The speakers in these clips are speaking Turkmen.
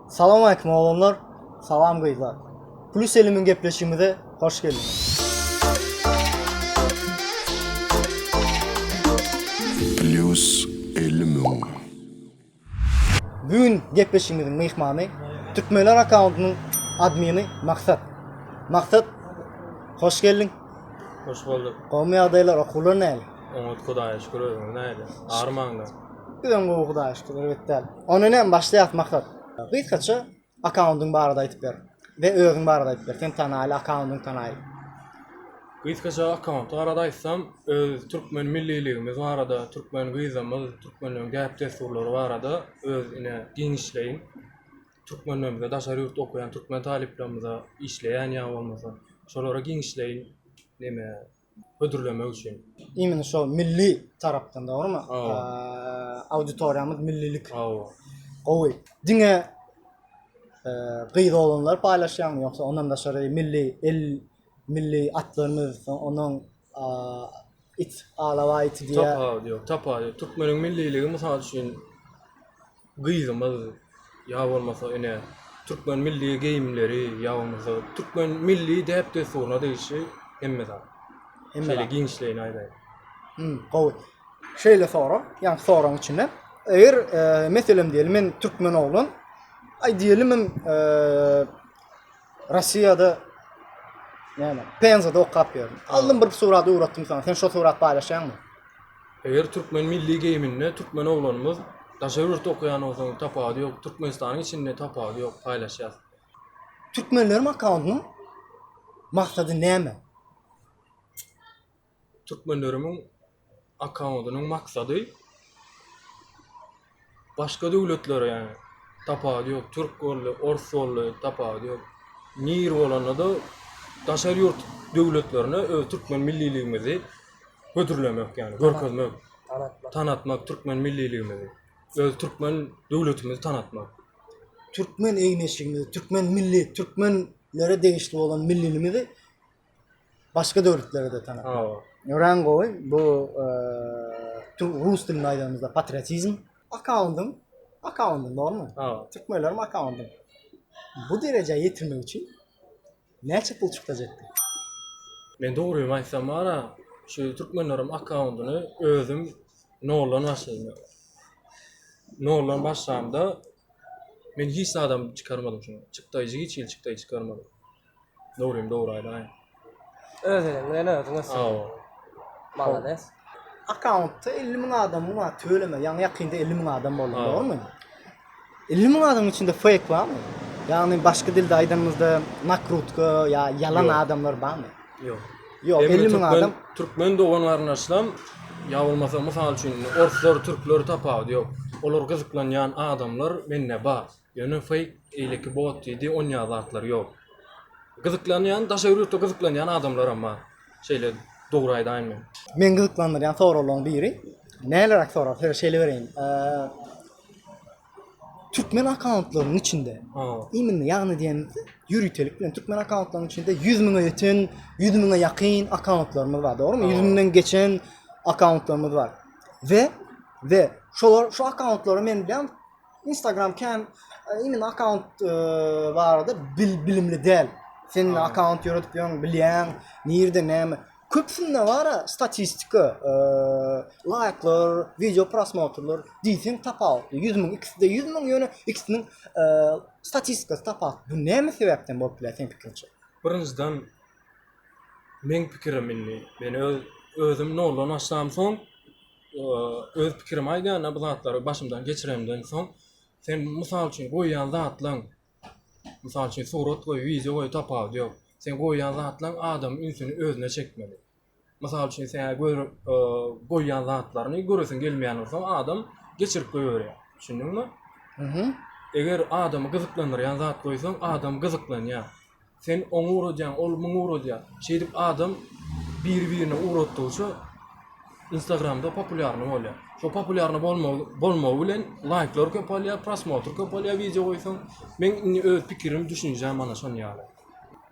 Salam aleýkum oglanlar Salam gyzlar Plus elimiň gepleşigimize hoş geldiňiz. Plus elimiň. Bu gün gepleşigimiziň myhmany Türkmenler akkauntynyň admini Maksat. Maksat hoş geldiň. Hoş bolduk. Gowymy ýagdaýlar okuwlar näli? Oňat Hudaýa şükür özüňiz näle? Armaňda. Biz öň gowy hudaýyşdyk, erbet däl. Onda näme başlaýas Maksat? Gysgaça akkaundyň barada aýdyp ber we özüň barada aýdyp ber, sen tanaýyl, akkaundyň tanaýyl. Gysgaça akkaunt barada aýtsam, öz türkmen milliligimiz barada, türkmen gyzymyz, türkmenleň däp-dessurlary barada öz ine giňişleýin. Türkmenlerimize, daşary ýurtda okaýan türkmen talyplarymyza, işleýän ýa bolmasa, şolara giňişleýin. Neme. hödürlemek üçin. Imini şo milli tarapdan dogrymy? Hawa. Auditoriýamyz millilik. Hawa. Gowy. Diňe gyz oglanlar paýlaşýaňmy ýogsa ondan daşary milli el milli atlarymyz onuň it alawa iti diýýär. Tapawudy ýok. Tapawudy ýok. Türkmeniň milliligi mysal üçin gyzymyz ýa bolmasa ine türkmen milli geýimleri ýa bolmasa türkmen milli däp-dessuryna degişli hemme zat. Hemme Şeýle zat. giňişleýin aýdaýyn. Hü, gowy. Şeýle sorag, ýaňky soragyň içinden. Eger, e, meselem diýeli, men türkmen oglan, aý diýelim hem, e, Rossiýada näme? Penzada okap ýördüm. Aldym bir surat ugratdym saňa. Sen şo surat paýlaşýaňmy? Eger türkmen milli geýiminde türkmen oglanymyz daşary ýurtda okaýan bolsaň tapawudy ýok, Türkmenistanyň içinde tapawudy ýok, paýlaşýas. Türkmenleriň akkauntynyň maksady näme? Türkmenleriň akkauntynyň maksady başga döwletlere ýagny tapawudy ýok türk boldy ors boldy tapawudy ýok nir bolanda-da daşary ýurt döwletlerine öz türkmen milliligimizi hödürlemek ýagny görkezmek tanatmak türkmen milliligimizi öz türkmen döwletimizi tanatmak türkmen eýneşigimizi türkmen milli türkmenlere degişli bolan millinimizi başga döwletlere de tanap. Hawa. Ören goý, bu rus dilinde aýdanymyzda patriotizm. Akkaundyň, akkaundyň, dogrumy? Hawa. Türkmenleriň akkaundy. Bu derejä ýetirmek üçin näçe pul çykdajak? Men dogrymy aýtsam bara, şu türkmenleriň akkaundyny özüm noldan başlaýyn. Noldan başlamda men hiç adam çykarmadym şuny. Çykdaýjy hiç hili çykdaýjy çykarmadym. Nurim dogry aýdaýyň. Öz eliň bilen özüň ösdüň. Hawa. Malades. Akkauntda elli müň adamyň bar, tüweleme, ýaňy ýakynda elli müň adam boldy, Hawa. dogrumy? Elli müň adamyň içinde fake barmy? Ýagny başga dilde aýdanymyzda nakrutka ýa ýalan Ýok. adamlar barmy? Ýok. Ýok, Emma elli müň türkmen- adam. Türkmen dogan-garyndaşlam, ýa bolmasa mysal üçin, orslar, türkler tapawudy ýok. Olar gyzyklanýan adamlar mende bar. Ýöne fake eýleki bot diýdi on ýaly zatlar ýok. Gyzyklanýan daşary ýurtda gyzyklanýan adamlaram bar. Şeýle dogry aýdaýyn men. Meni gyzyklandyrýan soraglaryň biri näleräk sorag size şeýle bereýin. Türkmen akkauntlarynyň içinde imенно ýagny diýenimizde ýöritelik bilen türkmen akkauntlarynyň içinde 100 müňe ýeten, 100 müňe ýakyn akkauntlarymyz bar, dogrumy? 100 müňden geçen akkauntlarymyz bar. We we şolar şu akkauntlary men bilýän Instagram kän ýene e, akaunt e, barada bil, bilimli däl. Sen ne akaunt ýöredip ýöň, bilýäň, nirde näme. Köpsünde bar statistika, e, laýklar, wideo prosmotrlar diýseň tapawutly. 100 müň ikisinde 100 müň ýöne ikisiniň e, statistikasy tapawut. Bu näme sebäpden bolup biler sen pikiriňçe? Birinjiden men pikirim indi, men öz özüm noldan başlamsoň öz pikirimi aýdanda bu zatlary başymdan geçiremden soň sen mysal üçin goýýan zatlaň mysal üçin surat goý wideo goý tapawudy ýok sen goýýan zatlaň adamyň ünsüni özüne çekmeli mysal üçin sen goýýan zatlaryny göresiň gelmeýän bolsa adam geçirip goýberýär düşündiňmi eger adamy gyzyklandyrýan zat goýsaň adam gyzyklanýar Sen oňa ugradýaň, ol muňa ugradýar. Şeýdip adam biri-birine ugratdygyça Instagramda populýarny bolýar. Şo populýarny bolmagy bolmagy bilen laýklar köpelýär, prosmotr köpelýär wideo goýsaň. Meň indi öz pikirim, düşünjäm mana şon ýaly.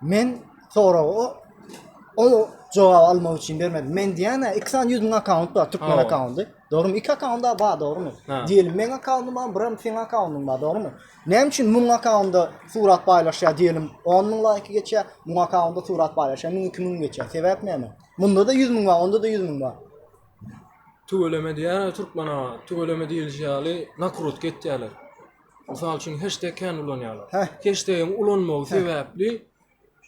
Men soragy o o jogaby almak üçin bermedim. Men diýýän-ä iki sany ýüz müň akkaunt bar, türkmen Hawa. akkaundy. Dogrumy? Iki akkauntda bar, dogrumy? Diyelim meň akkauntym bar, biram seň akkauntym bar, dogrumy? Näme üçin muň akkauntda surat paýlaşýar diyelim 10 müň laýky geçýär, muň akkauntda surat paýlaşýar 1000 2000 geçýär. Sebäp näme? Munda da 100 müň bar, onda da 100 müň bar. Tüweleme diýýärler türkmen aga. Tüweleme diýilişi ýaly nakrutka etýärler. Mysal üçin heşteg kän ulanýarlar. Heh. Heştegiň ulanmagy sebäpli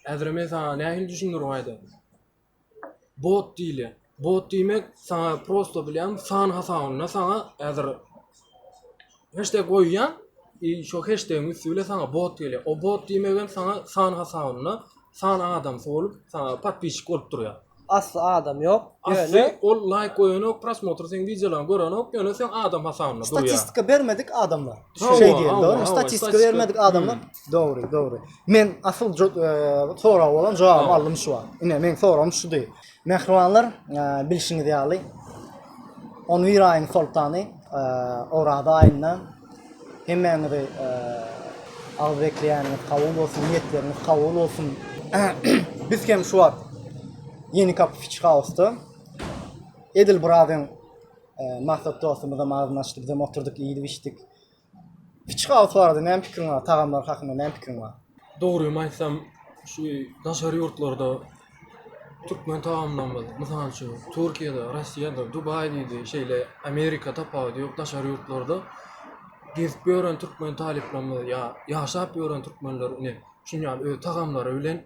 häzirem men saňa nähili düşündirin aýdaýyn. bot diýilýär. Bot diýmek saňa prosto bilýän san hasabynda saňa häzir hashtag goýýan i şo hashtagyň üsti bilen saňa bot gelýär. O bot diýmek hem saňa san hasabynda san adam bolup saňa podpisçik bolup durýar. Asly adam ýok. Asly ol laýk goýanok, prosmotr seň wideolaryňy görenok, ýöne sen adam hasabynda durýar. Statistika bermedik adamlar. Şeý diýildi. Statistika bermedik adamlar. Dogry, dogry. Men asyl sorag bolan jogap aldym şu wagt. Ine, men soragym şudy. Mähribanlar, e, bilşiňiz ýaly, on bir aýyň soltany e, Oraza aýynda hemmäňizi e, agyz bekleýäniňiz kabul bolsun, niýetleriňiz kabul bolsun. Biz hem şu wagt Ýeni Kapy Fiç Hausda edil biraz hem e, maksat dostumyza mazyn açdyk, biz hem oturduk, iýdik, içdik. Kiçi gawusy barada näme pikiriň bar? Tagamlary hakynda näme pikiriň bar? Dogrymy aýtsam, şu daşary ýurtlarda türkmen tagamlarymyz, mysal üçin, Türkiýede, Rossiýada, Dubaý diýdi, şeýle Amerika tapawudy ýok, daşary ýurtlarda gezip ýören türkmen talyplarymyz ýa ýaşap ýören türkmenler ine şuny ýaly öz tagamlary bilen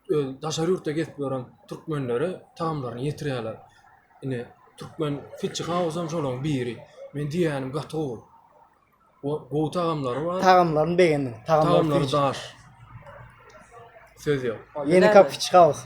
öz daşary ýurtda gezip ýören türkmenlere tagamlaryny ýetirýärler. Indi türkmen Fitchi House hem şolaryň biri. Men diýýänim gaty gowy. O gowy tagamlary bar. Tagamlaryny begendim. Tagamlary Tagamlary daş. daş. Söz ýok. Ýeni kapiçkaus.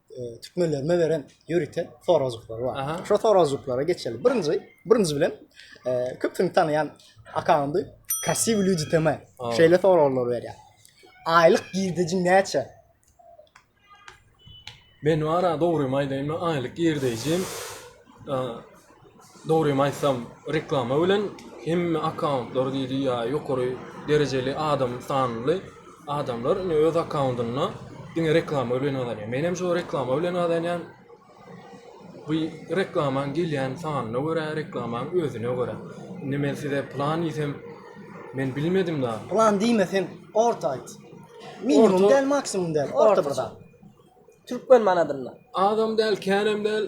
e, türkmenlerime beren ýörite sorajyklary bar. Aha. Şo sorajyklara geçeli. Birinji, birinji bilen e, köpüni tanýan akamdy. Krasiw люди tema. Aa. Şeýle soraglar berýär. Aýlyk girdejiň näçe? Men wara dogrymy aýdaýynmy? Aýlyk girdejim. Dogrymy aýtsam, reklama bilen hemme akkauntlary diýdi ýa ýokary derejeli adam sanly adamlar indi öz akkauntynda diňe reklama bilen gazanýar. Menem şo reklama bilen gazanýan. Bu reklamaň gelýän sanyna görä, reklamaň özüne görä. Indi men size plan diýsem, men bilmedim da. Plan diýme sen, orta aýt. Minimum däl, maksimum däl, orta bir zat. Türkmen manadynda. Azam däl, känem däl.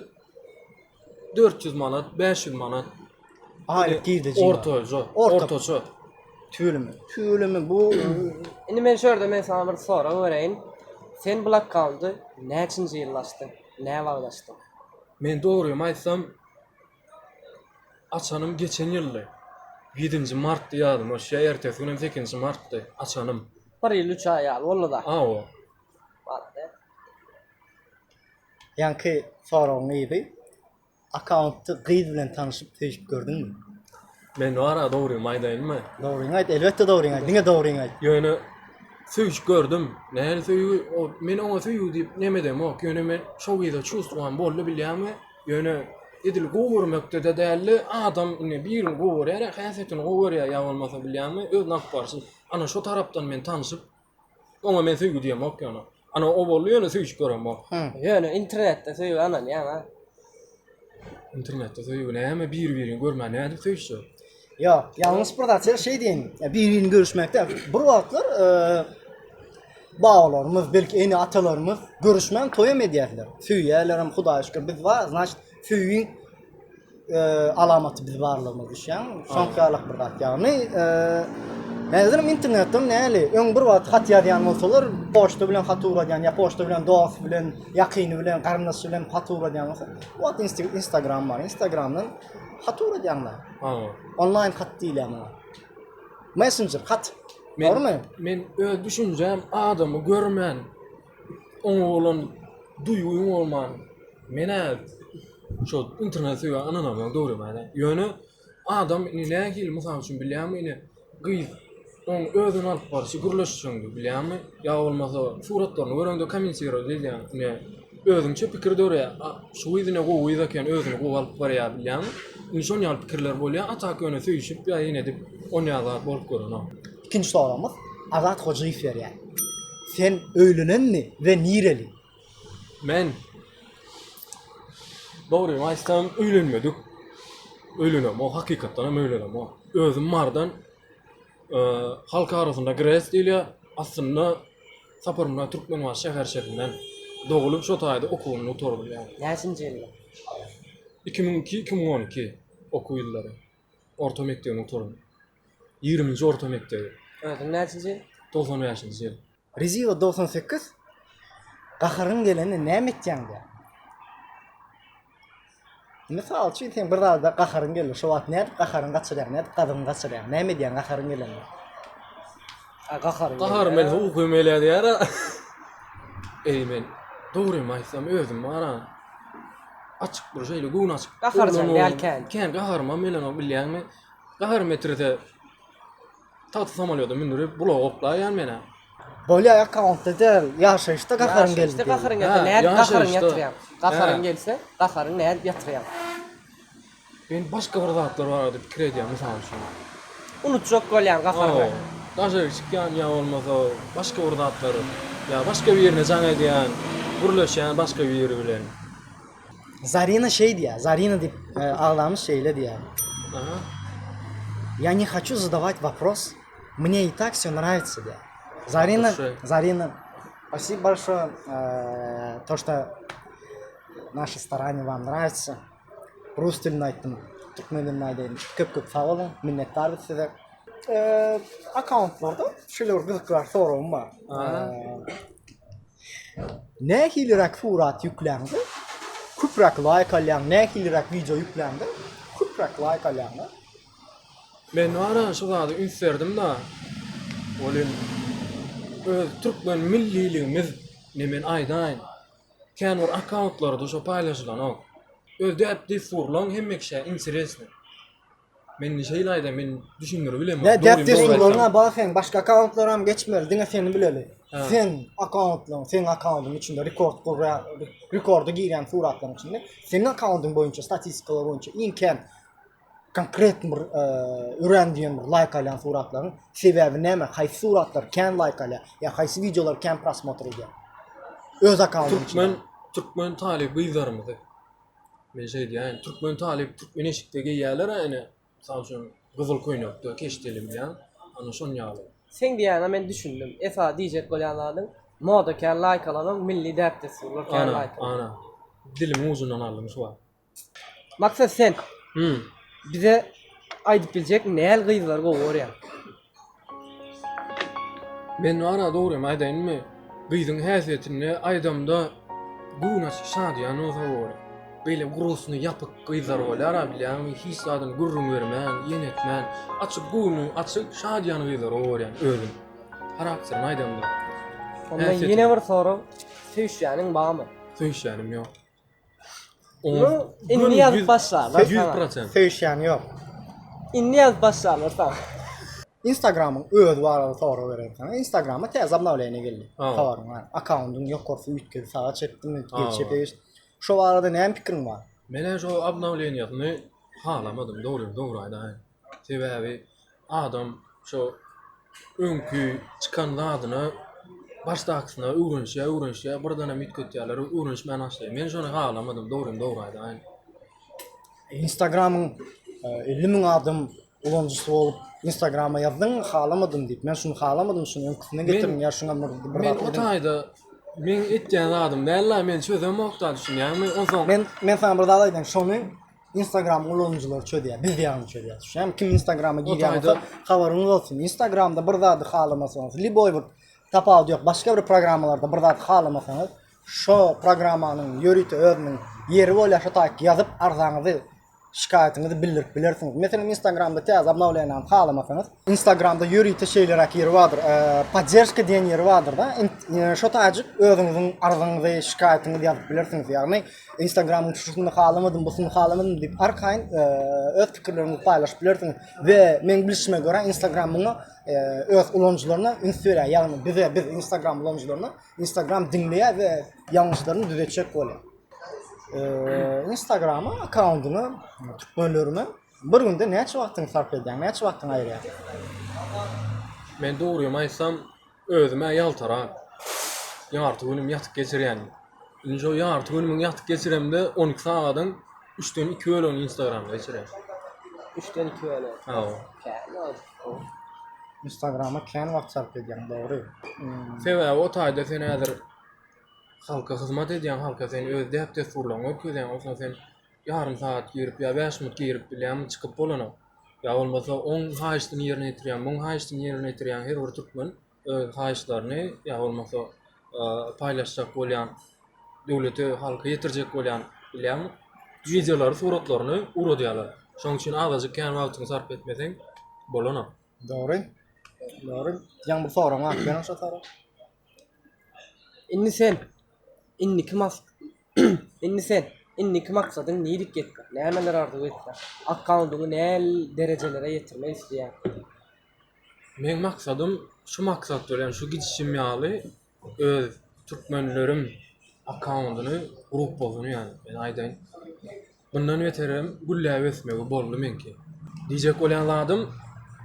dört ýüz manat, bäş ýüz manat. Aýlyk girdeji. Ortaça, Orta. ortaça. Tüweleme. Tüweleme bu Indi men şu ýerde men sana bir sorag bereýin. Sen blokkawndy näçinji ýylda açdyň? Nä wagt açdyň? Men dogrymy aýtsam, açanym geçen ýyldy. Ýedinji martdy ýadyma düşýär, ertesi günem sekizinji martdy açanym. Bir ýyl üç aý ýaly boldy-da. Hawa. Barada. Ýaňky soragyň yzy akkaunty gyz bilen tanyşyp söýşüp gördüňmi? Men wara dogrymy aýdaýynmy? Dogryňy aýt, elbetde dogryňy aýt, diňe dogryňy aýt. Ýöne söýşüp gördüm. Nähili söýgi? Ol men oňa söýgi diýip nemedemok. Ýöne men şo gyza çuwstwam boldy bilýäňmi? Ýöne edil gowy görmekde-de däldi. Adam indi birini gowy görýär-ä, häsiýetini gowy görýär ýa bolmasa bilýäňmi? Öz nagt barşy. Ana şo tarapdan men tanyşyp, Oňa men söýgi diýemok ýöne. Ana o boldy ýöne söýşüp göremok. Ýöne internetde söýgi ananýaň-a. Internetde söýgi näme bir-birini görmän nädip söýüşjek? Ýok, ýalňyş bir zat şeý diýen, bir-birini görüşmekde bir wagtlar babalarymyz, belki ene-atalarymyz görüşmän toýam edýärdiler. Söýýärlerem, Hudaýa şükür biz bar, znaçt söýgiň alamaty biz barlygymyz düşýän. Soňky ýalak bir zat ýagny Häzir internetde näli? Öň bir wagt hat ýazýan bolsalar, poçta bilen hat ugradýan, ýa poçta bilen dost bilen, ýakyny bilen, garyndaş bilen hat ugradýan bolsa, wagt Instagram bar. Instagramdan hat ugradýanlar. Ha. Onlaýn hat diýilýär muňa. Messenger hat. Men, Men öz düşünjem adamy görmän, Oňa bolan duýgyň bolman, men-ä şo internete söýýän ynanamyň dogrymy-da. Ýöne adam indi nähili, mysal üçin, bilýäňmi, indi gyz oň özüni alyp barşy, gürleşişiňdir, bilýäňmi? Ýa bolmasa suratlaryny göreňde kommentirowat edýäň, ine, özüňçe pikir döreýär. A şu gyz ine gowy gyz eken, özüni gowy alyp barýar, bilýäňmi? Indi şon ýaly pikirler bolýar, a tak ýöne söýşüp ýa-da ine edip, onýa zat bolup görenok. Ikinji soragymyz Azat Hojaýew berýär. Sen öýlenenmi we nireli? Men dogryny aýtsam öýlenmedik. Öýlenemok, hakykatdan hem öýlenemok. Özüm bardan halk arasynda gres diýilýär. Aslynda Saparmyrat Türkmenbaşy şäherçesinden. Dogulyp şo taýda okuwyny gutardym ýaly. Näçinji ýylda? Iki müň iki, iki müň on iki okuw ýyllary. orta mekdebini gutaran. Ýigriminji orta mekdebi. Özüň näçinji ýyl? Togsan bäşinji ýyl. Reziýewa dogsan sekiz Gaharyň gelende näme etýäň diýýär. Mysal üçin sen bir zada gaharyň geldi. Şo wagt nädip gaharyňy gaçyrýaň, nädip gazygyňy gaçyrýaň, näme edýäň gaharyň gelende? Gahar men uky meleýär ýara. Eý men dogrymy aýtsam özüm bara açyk bir şeýle göwün açyk. Gaharjan däl kän. Kän gaharyma melenok bilýäňmi? Gahar metrede tagta samalýoda mündirip bulaga oklaýan menä. Bolýa akkauntda däl, ýaşaýyşda gaharyň geldi. Ýaşaýyşda gaharyň geldi. Gaharyň gelse, gaharyň nädip ýatyrýaň? Men başga bir zatlar barada pikir edýän mysal üçin. Unutjak bolýan gaharyňy. Daşaryk çykýan ýa bolmasa başga bir zatlar ýa başga birine jaň edýän, gürleşýän başga biri bilen. Zarina şeý diýýär, Zarina diýip agzamyş şeýle diýýär. Aha. Ýa ne haçu zadawaýt wapros, mne i tak wsё nrawytsa diýýär. Zarina, Zarina Spasibo bolşoý, to što naşi staraniýa wam nrawytsa. Rus dilinde aýtdym. Türkmen dilinde aýdaýyn. Köp köp sag boluň. Minnetdar biz size. Akkauntlarda şeýle bir gyzyklar soragym bar. Nähiliräk surat ýükläňde köpräk laýk alýaň, nähiliräk wideo ýükläňde köpräk laýk alýaň? Men ara şu zada üns berdim-de. Ol hem öz türkmen milliligimiz. Indi men aýdaýyn. Känbir akkauntlarda şo paýlaşylanok. Öz däp dessurlaň hemme kişä interesny. Mende şeýle aýda men düşündiribilemok. Nä däp dessurlaryna bar sen başga akkauntlaram geçmeli diňe seni bileli. Sen akkauntlaň seň akkauntyň içinde rekord gurra rekorda girýän suratlaryň içinde seniň akkauntyň boýunça statistikalar boýunça iň kän konkret bir örän diýen bir laýk alýan suratlaryň sebäbi näme? Haýsy suratlar kän laýk alýar? Ýa haýsy wideolar kän prosmotr edýär? Öz akkauntyň Türkmen türkmen talyp gyzlarymyzy men şeý diýýän, türkmen talyp türkmen eşikde geýýärler ene, mysal üçin gyzyl köýnekde keşdeli bilen, ana şon ýaly. Seň diýýäňe men düşündim. Esasy diýjek bolýan zadyň moda kän laýk alanok, milli däp-dessurlar kän laýk. Ana, ana. Dilimiň ujundan aldym şu wagt. Maksat sen Hmm. bize aýdyp biljekmi näl gyzlary gowy görýäň? Men wara dogrymy aýdaýynmy? Gyzyň häsiýetini aýdamda göwnaçyk şadyýan bolsa gowy. Beýle gurusyny ýapyk gyzlar bolýara bilýäňmi hiç zadyny gürrüň bermän, ýen etmän, açyk göwni açyk, şadyýan gyzlary gowy görýän özüm. Harakterini aýdamda. Onda Häsiýetini. ýene bir sorag, söýüşýäniň barmy? Söýüşýänim ýok. Oňa indi ýazyp başlarlar. Ýüz prosent. Söýüşýän ýok. Indi ýazyp başlarlar saňa. Instagramyň özi barada sorag bereýin saňa. Instagrama täze obnowleniýa geldi. Habaryň bar. Akkauntyň ýokarsy üýtgedi, saga çekdimi, çepe geçdi. Şo barada näme pikiriň bar? Men-ä şo obnowleniýasyny halamadym, dogryny dogry aýdaýyn. Sebäbi adam şo öňki çykan zadyna başdakysyna öwrenişýär, öwrenişýär, birdenem üýtgetýärler, öwrenişmän başlaýar. Men şony halamadym, dogrymy dogry aýdaýyn. Instagramyň 50 e, müň adam ulanyjysy bolup Instagrama ýazdyň, halamadym diýip. Men şuny halamadym, şuny öňküsine getirdim, ýa şuňa bir bir Men o taýda men etýän zadym däl-la, men çözemok da düşünýärmi? Onsoň Men men sana bir zat aýdaýyn, şony Instagram ulanyjylary çözýär, biz ýagyny çözýär. Düşýäňmi? Kim Instagrama girýän bolsa, habaryňyz bolsun. Instagramda bir zady halamasaňyz, liboý bir tapawut ýok, başga bir programmalarda bir zat halamasaňyz, şo programmanyň ýörite özüniň ýeri bolýar, şo taýk ýazyp arzaňyzy, şikaýatyňyzy bildirip bilersiňiz. Meselem, Instagramda täze obnowleniýany halamasaňyz, Instagramda ýörite şeýleräk ýeri bardyr, podderjka diýen ýeri bardyr-da, şo taýjyk özüňiziň arzyňyzy, şikaýatyňyzy ýazyp bilersiňiz. Ýagny, Instagramyň çykyşyny halamadym, bu syny halamadym diýip arkaýyn e, öz pikirleriňizi paýlaşyp bilersiňiz we meň bilişime görä Instagram muňa e, öz ulanyjylaryna üns berýär. Ýagny bize biz Instagram ulanyjylaryna Instagram diňleýär we ýalňyşlaryny düzetjek bolýar. E, Instagrama akkauntyňy türkmenlerime bir günde näçe wagtyňy sarp edýäň, näçe wagtyňy aýyrýaň? Men dogrymy aýtsam, Özüm-ä ýaltarak, ýarty günüm ýatyp geçirýän. Indi şo ýarty günümiň ýatyp geçiremde on iki sagadyň üçden iki bölegini instagramda geçirýän. Üçden iki bölegi. Hawa. Kän wagt. Instagrama kän wagt sarp edýäň, dogry. Sebäbi o taýda sen häzir halka hyzmat edýäň, halka sen öz däp-dessurlaryňy görkezýäň, onsoň sen ýarym sagat girip ýa bäş minut girip bilýämi çykyp bolana ýa bolmasa oň haýyştyny ýerine ýetirýän muň haýyştyny ýerine ýetirýän her bir türkmen öz haýyşlaryny ýa bolmasa paýlaşjak bolýan döwlete halka ýetirjek bolýan bilýämi wideolary suratlaryny ugradýarlar şoň üçin azajyk kän wagtyňy sarp etmeseň bolana. Dogry. Dogry. Ýaňy bir soragyň bar eken şo sorag. Indi sen indiki mas Indi sen, indiki maksadyň nilik ýetmek, nämeleri arzuw etýäň? Akkaundyňy näli derejelere ýetirmek isleýäň? Meň maksadym şu maksat bilen şu gidişim ýaly öz türkmenlerim akkaundyny gurup bolsun ýaly men aýdaýyn. Mundan beterem gülläp ösmegi boldy meňki. Diýjek bolýan zadym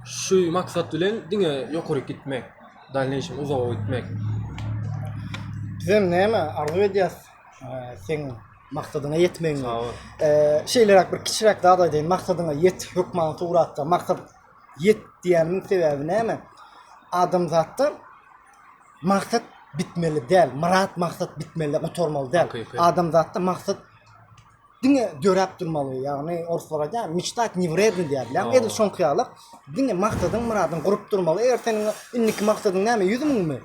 şu maksat bilen diňe ýokaryk gitmek, dalneýşem uzaga gitmek. Bizem näme arzuw edýäs seň maksadyňa ýetmegiňi. Sag bol. Şeýleräk bir kiçiräk zat aýdaýyn. Maksadyňa ýet hökman suratda maksat ýet diýýänimiň sebäbi näme? Adamzatda maksat bitmeli däl, myrat maksat bitmeli gutarmaly däl. Adamzatda maksat diňe döräp durmaly, ýagny orslar aýdýar, meçtat ne wredny diýýär bilen, edil şoňky ýaly diňe maksadyň, myradyň gurup durmaly. Eger seniň indiki maksadyň näme, 100 müňmi?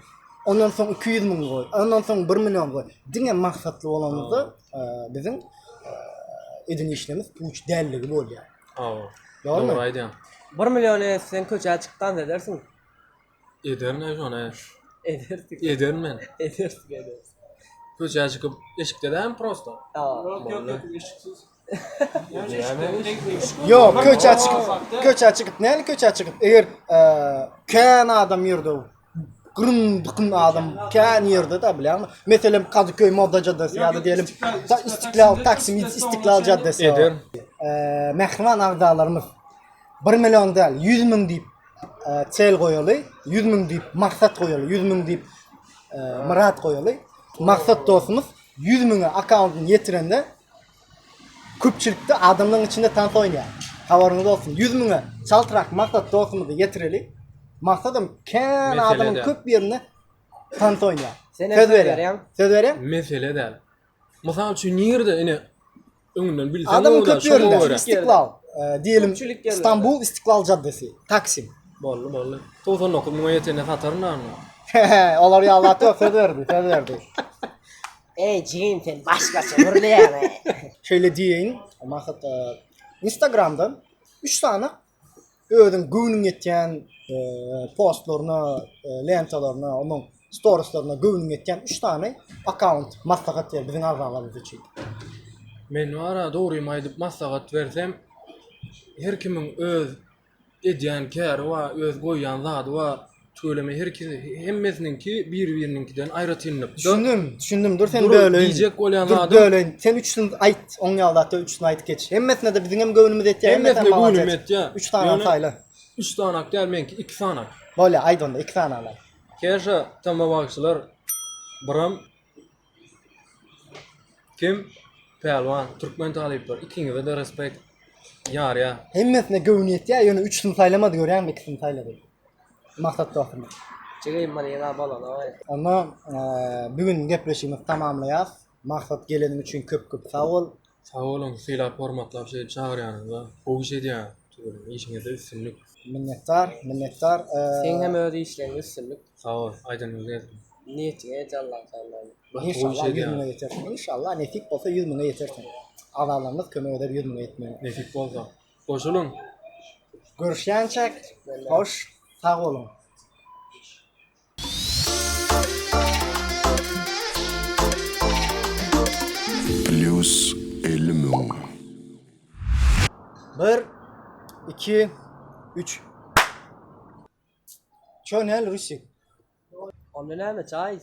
Ondan soň 200 müň goý, ondan soň 1 million goý. Diňe maksatly bolanymyzda biziň eden işlerimiz puç dälligi bolýar. Hawa. Dogry aýdýaň. 1 million etseň köçä çykdan edersiň. Ederin ay şonu. Edersik. Ederin men. Edersik edersik. Köçä çykyp eşikdedem prosto. Aa. Yok yok yok eşiksiz. Yok köçä çykyp köçä çykyp näle köçä çykyp eger eee, kän adam ýerde o. Gyrym dykym adam kän ýerde de bilýärmi? Meselem Kadıköy Moda Caddesi ýa-da diýelim ta İstiklal Taksim İstiklal Caddesi. Eder. Eee, mähriban agzalarymyz 1 million däl 100 müň diýip çel e, goýaly, 100 müň diýip maksat goýaly, 100 müň diýip e, myrat goýaly. Maksat dostumyz 100 müňe akkauntyny ýetirende köpçülikde adamlaryň içinde tans oýnaýar. Habaryňyz bolsun. 100 müňe çaltrak maksat dostumyzy ýetireli. Maksadym kän adamyň köp ýerinde tans oýnaýar. Söz berýär. Söz berýär. Mesele däl. Mysal üçin nirde ine öňünden bilseň Adam köp şoňa ýerinde. görä. İstiklal. e, Diyelim Köpçülik yerlerde. İstanbul İstiklal Caddesi. Taksim. Bolly bolly. 99 muňa ýetende sataryn da onda. Olar ya Allah yok söz verdi. Söz verdi. Ey jigim sen başgaça gürleýäň. Şöyle diyeyim. Mahat e, Instagram'dan 3 tane özüň göwnüň ýetýän postlaryna, lentalaryna, onuň storislaryna göwnüň ýetýän 3 sany akkaunt maslahat ber biziň agzalarymyz üçin. Men wara dogrymy aýdyp maslahat bersem, her kimiň öz edýän käri bar, öz goýýan zady bar. Tüweleme her kim hemmesiniňki bir-biriniňkiden aýratynlykda. Düşündim, düşündim. Dur sen Dur, böleýin. diýjek bolýan Dur adam- böleýin. Sen üçsini aýt. Oň ýagdatda üçsini aýdyp geç. Hemmesine de biziň hem göwnümiz ýetýär. Hemmesine hem maňa göwnüm ýet. etýä. Üç sany Ýöne saýla. Üç sanak däl meňki, iki sanak. Bolýa, aýt onda iki sany ala. Käşa tamma bagşylar biram Kim? Pälwan, türkmen talyplar. Ikiňize-de respekt. Ýarýa. Hemmesine göwni ýetýär, ýöne üçüsini saýlamady görýäňmi, ikisini saýlady. Maksat dostumy. Çegeýim many ýene abalana. Onda eee, bu gün gepleşigimizi tamamlaýas. Maksat geleniň üçin köp-köp sag bol. Sag boluň sylap hormatlap şeýdip çagyrýanyňyza gowy iş edýäň tüweleme işiňizde üstünlik. Minnetdar minnetdar Seň hem öz işleňde üstünlik. Sag bol aýdanyňyz gelsin. Niýetiňe ýet Allaň taýynlany. Inşallah ýüz müňe ýetersiň. Inşallah nesip bolsa ýüz müňe ýetersiň. Agzalarymyz kömek eder ýüz müňe ýetmegine. Nesip bolsa. Goşulyň. Görüşýänçäk hoş sag boluň. Plýus elli müň. Bir, iki, üç. Ço näl rusik. Onda näme çaý iç.